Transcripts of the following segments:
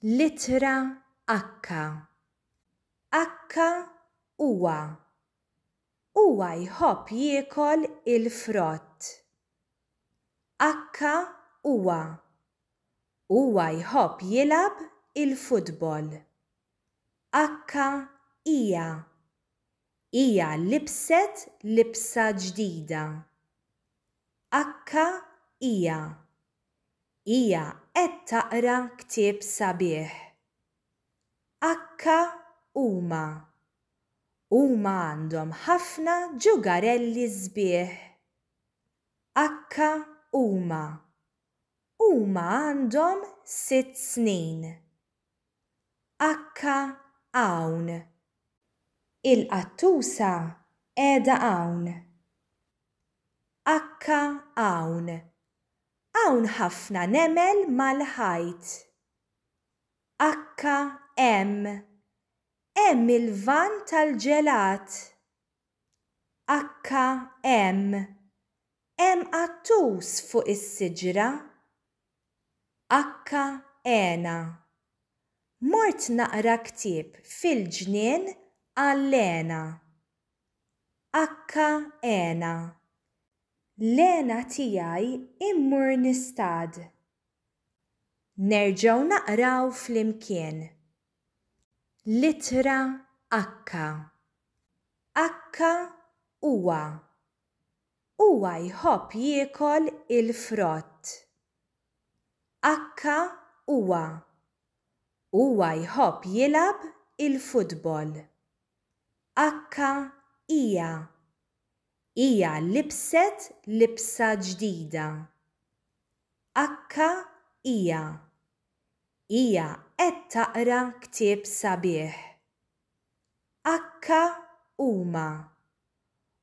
L-ittra Akka. Akka huwa. Huwa jħobb jiekol il-frott. Akka huwa. Huwa jħobb jilgħab il-futbol. Akka hija. Hija libset libsa ġdida. Akka hija. hija qed taqra ktieb sabiħ. Akka huma. Huma għandhom ħafna ġugarelli sbieħ. Akka huma. Huma għandhom sitt snin. Akka hawn. Il-qattusa qiegħda hawn. Akka hawn. Hawn ħafna nemel mal-ħajt. Akka hemm. Hemm il-van tal-ġelat. Akka hemm. Hemm qattus fuq is-siġra. Akka hena. Mort naqra ktieb fil-ġnien għal hena. Akka hena. L-hena tiegħi mmur nistad. Nerġgħu naqraw flimkien. L-ittra Akka. Akka huwa. Huwa jħobb jiekol il-frott. Akka huwa. Huwa jħobb jilgħab il-futbol. Akka hija. Hija libset libsa ġdida. Akka hija. Hija qed taqra ktieb sabiħ. Akka huma.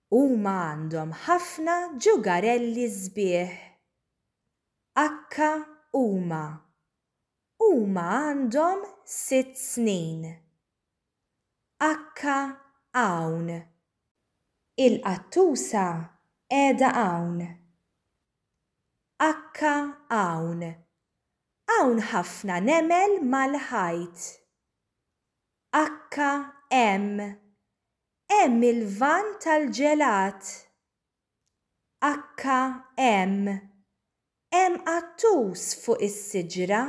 Huma għandhom ħafna ġugarelli sbieħ. Akka huma. Huma għandhom sitt snin. Akka hawn. Il-qattusa qiegħda hawn. Akka hawn. Hawn ħafna nemel mal-ħajt. Akka hemm. Hemm il-vann tal-ġelat. HM, Hemm qattus fuq is-siġra?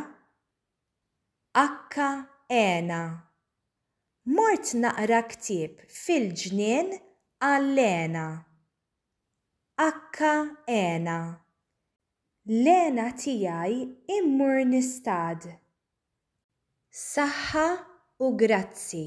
HENA, Mort naqra ktieb fil-ġnien għal-Lena. HENA, Lena tiegħi immur nistad. Saħħa u grazzi.